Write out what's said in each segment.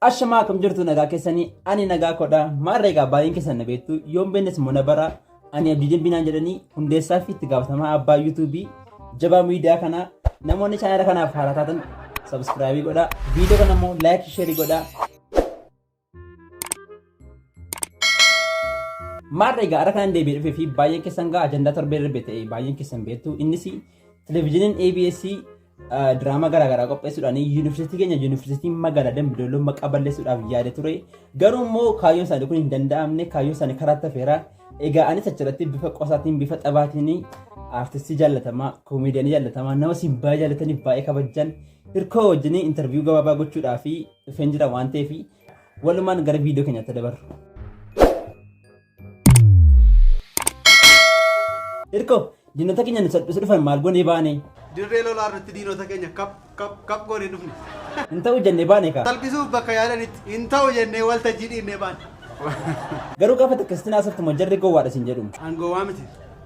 Ashamaa akkam jirtu nagaa keessanii ani nagaa kodha maarra egaa baay'een keessan na beektu yoon beennes immoo na bara ani abdii dinbinaan jedhanii hundeessaa fi itti gaafatamaa abbaa yuutuubii jabaa miidiyaa kanaa namoonni chaanala kanaaf haaraa taatan sabskraayibii godhaa viidiyoo kana immoo laayik sheerii godhaa maarra egaa har'a kanan deebi'ee dhufee fi baay'een keessan gaa ajandaa torbee darbe ta'e baay'een keessan beektu innis televizyiiniin ABS diraamaa garaagaraa qopheessuudhaan yuunivarsiitii keenya yuunivarsiitii magaalaa Dambidolloo maqaa balleessuudhaaf yaade ture. Garuu immoo kaayyoon isaanii kun hin danda'amne kaayyoon isaanii karaa tafeera. Egaa anis achirratti bifa qosaatiin bifa taphaatiin aartistii jaallatamaa koomeediyaanii jaallatamaa nama siin baay'ee jaallataniif baay'ee kabajan hirkoo wajjin intarviiyuu gabaabaa gochuudhaaf dhufeen jira waan ta'eef walumaan gara viidiyoo keenyaatti dabarru. Irko, diinota keenya nu salphisu dhufan maal goonee baane? Dirree lolaa irratti diinota keenya kap kap kap goone dhufne. Hin ta'u jennee baane kaa. Salphisuuf bakka yaadanitti hin ta'u jennee waltajjii dhiibnee baane. Garuu gaafa takkasitti naasoftu moo jarri gowwaadha siin jedhu. An gowwaa miti.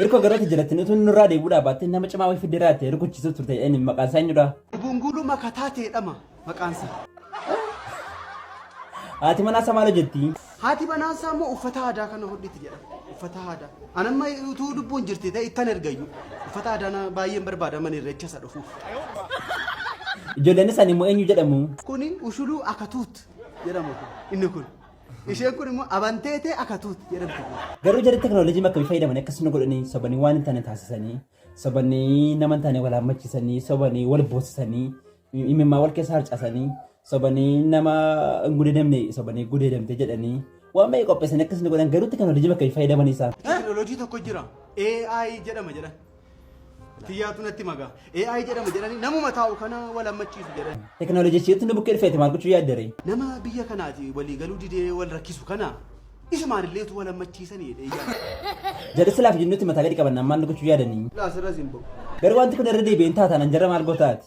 Irko garota jalatin utuu nurraa deebi'uudhaa baattee nama cimaa wayii fiddee irraa ta'e rukuchiisuu turte inni maqaan isaa eenyudha? Bunguuluma kataa ta'edhama maqaansa. Haati manaa isaa maal hojjetti? Haati manaa isaa immoo uffata aadaa kana hodhiti jedha. Uffata aadaa. An amma utuu lubbuun jirti ta'e ittan ergayyu. Uffata aadaa na baay'een barbaada mana irreecha isa dhufuuf. Ijoolleen isaanii immoo eenyu jedhamu? Kuni ushuluu akatuut jedhama kun. Inni kun. Isheen kun immoo abanteetee akatuutti jedhamti. Garuu jarri teknoolojii akkamii fayyadamanii akkas nu godhanii sobanii waan hin taane taasisanii sobanii nama hin taane wal hammachiisanii sobanii wal boosisanii imimmaa wal keessa harcasanii sobanii nama hin gudeedamne sobanii gudeedamte jedhanii waan baay'ee qopheessanii akkas nu godhan garuu teknoolojii akkamii fayyadamanii isaan. Teknoolojii tokko jira AI jedhama jedhan. Kiyyaatu natti magaa. AI jedhama jedhanii namuma taa'u kana wal hammachiisu jedhan. Teknooloojichiitti nu bukkee dhufeeti maal gochuu yaaddaree? Nama biyya kanaati walii galuu didee wal rakkisu kana isumaan illee utuu wal hammachiisanii jedhee yaada. Jalatti laaf jennutti mataa gadi qabanna ammaan nu gochuu yaadanii. Laasirra simboo. Garuu wanti kun irra deebi'een taataan anjarra maal gootaati?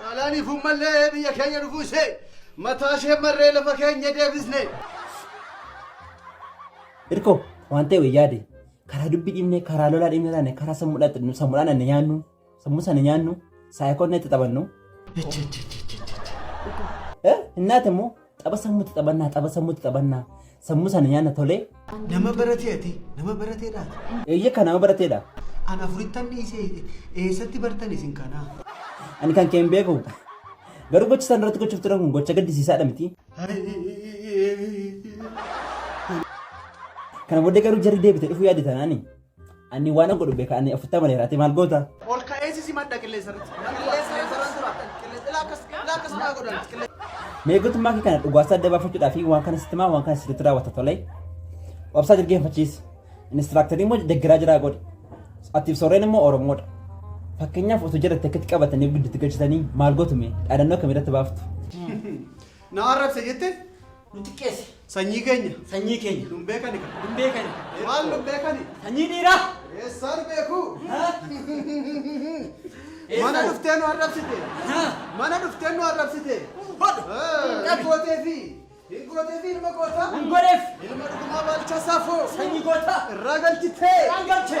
Xaalaaniif ummallee biyya keenya dhufuu ishee mataa ishee marree lafa keenya deebisne. Irko waan ta'e wayyaa yaade karaa dubbii dhiibne karaa lolaa dhiibne taane karaa sammuudhaan sammuudhaan ani nyaannu sammuu sana nyaannu saayikoon itti taphannu. Innaa ta'e immoo Tapha sammuutti taphannaa, tapha sammuutti taphannaa. Sammuu sana nyaanna tolee. Nama baratee ati? Nama baratee dhaati? Eeyyee kan nama barateedha. An afurittan dhiisee eessatti bartan isin kanaa? Ani kan kee hin beeku. Garuu gocha sana irratti gochuuf turan kun gocha gaddisiisaadha miti. Kana booddee garuu jarri deebite dhufuu yaadde tanaani. Ani waan godhu beeka ani afurtama dheera ati maal goota? Ol ka'eesi si madda qilleensa irratti. Qilleensa irratti irratti tura. Qilleensa ilaa akkas ilaa akkas naa godhan. Qilleensa. Meegotummaa kee kana dhugaasaa adda baafachuudhaa fi waan kana sitti himaa waan kana sirriitti raawwata tolee. Obsaa dirgeeffachiisi. Inistiraaktarii immoo deggeraa jiraa godhi. Atiif sooreen immoo Oromoodha. Fakkeenyaaf osoo jiratte akkatti qabatanii gidduutti galchitanii maal gootume dhaadannoo akkamii irratti baaftu? Na arrabse jette Nu xiqqeessi. Sanyii keenya. Sanyii keenya. Nun beekani ka. Nun beekani. Maal nun beekani? Sanyii dhiiraa. Eessaan beeku? Mana dhuftee nu arrabsite. Mana dhuftee nu arrabsite. Hin gooteefi. Hin gooteefi ilma gootaa. Hin godheef. Ilma dhugumaa baalchaa saafoo. Sanyii gootaa. Irraa galchitee. Irraan galchee.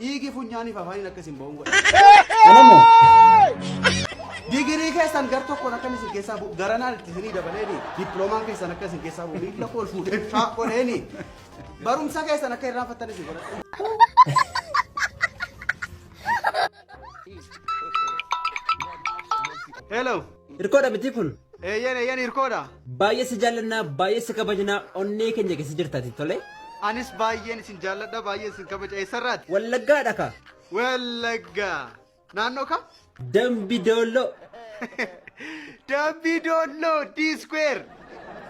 Dhiigi funyaaniif afaaniin akka isin ba'uun godha. Kana moo? Digirii keessan gar tokkoon akka isin keessaa bu'u garanaan itti isinii dabaleeni dippiloomaan keessan akka isin keessaa bu'u miila kool fuudhee faa godheeni barumsa keessan akka irraanfattan isin godha. Hello. Hirkoodha mitii kun? Eeyyan eeyyan hirkoodha. Baay'ee si jaallannaa, baay'ee si kabajnaa, onnee keenya keessa jirtaati tole. Anis baay'een isin jaalladha, baay'een isin kabaja. Eessarraati? Wallaggaadha ka. Wallagga. Naannoo kam? Dambi Doolloo. Dambi Doolloo D-Square.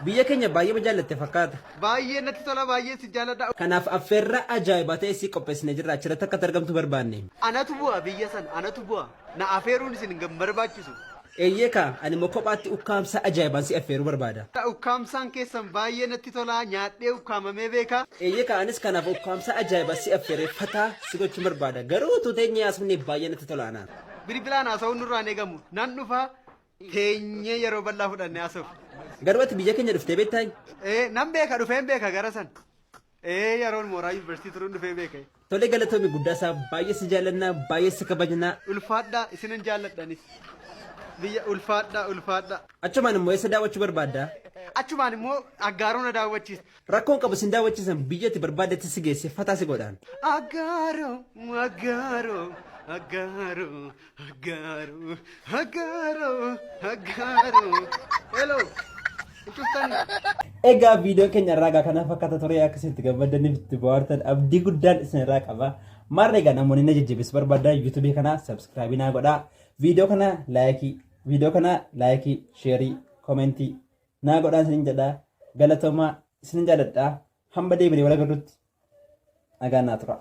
Biyya keenya baay'ee jaallatte fakkaata. Baay'ee natti tola, baay'ee isin jaalladha. Kanaaf affeerraa ajaa'ibaa ta'e si qopheessine jirra. Achirratti akka argamtu barbaanne. Anatu bu'a biyya sana, anatu bu'a. Na afeeruun isin hin barbaachisu. Eeyyee kaa, ani immoo kophaatti ukkaamsaa ajaa'ibaan si affeeruu barbaada. Ukkaamsaan keessan baay'ee natti tola, nyaadhee ukkaamamee beeka. Eeyyee kaa, anis kanaaf ukkaamsaa ajaa'ibaa si affeeree fataa si gochuun barbaada. Garuu utuu teenyee haasofnee baay'ee natti tola anaan. Bilbilaan haasa'uun nurraa hin eegamu. Nan dhufa, teenyee yeroo bal'aa fudhannee haasofna. Garuu ati biyya keenya dhuftee beektaayii? Ee, nan beeka, dhufeen beeka gara sana. Ee yaroon mooraa yuunivarsiitii turuun dhufee beeka. Tole galatoomi guddaasaa baay'ee si jaallanna baay'ee si kabajna. Ulfaadhaa isinan jaalladha anis. Biyya ulfaadhaa ulfaadhaa. Achumaan immoo eessa daawwachuu barbaadda? Achumaan immoo Aggaaroo na daawwachiisi. Rakkoon qabu sin daawwachiisan biyya ati barbaaddetti si geesse fataa si godhaan. Aggaaroo Aggaaroo Aggaaroo Haggaaroo, haggaaroo, haggaaroo. Hello, hin cuftanii? Egaa viidiyoo keenya irraa egaa kanaaf akkata ture akka isinitti gammaddaniif itti bohaartan abdii guddaan isin irraa qaba. Maarree egaa namoonni na jajjabeessu barbaadan yuutuubii kana sabskraabii naa godhaa. Viidiyoo kana laayikii, viidiyoo kana laayikii, sheerii, koomentii naa godhaa isinin jedhaa. Galatoomaa isinin jaaladhaa. Hamba deebinee wal agarrutti nagaan naa turaa.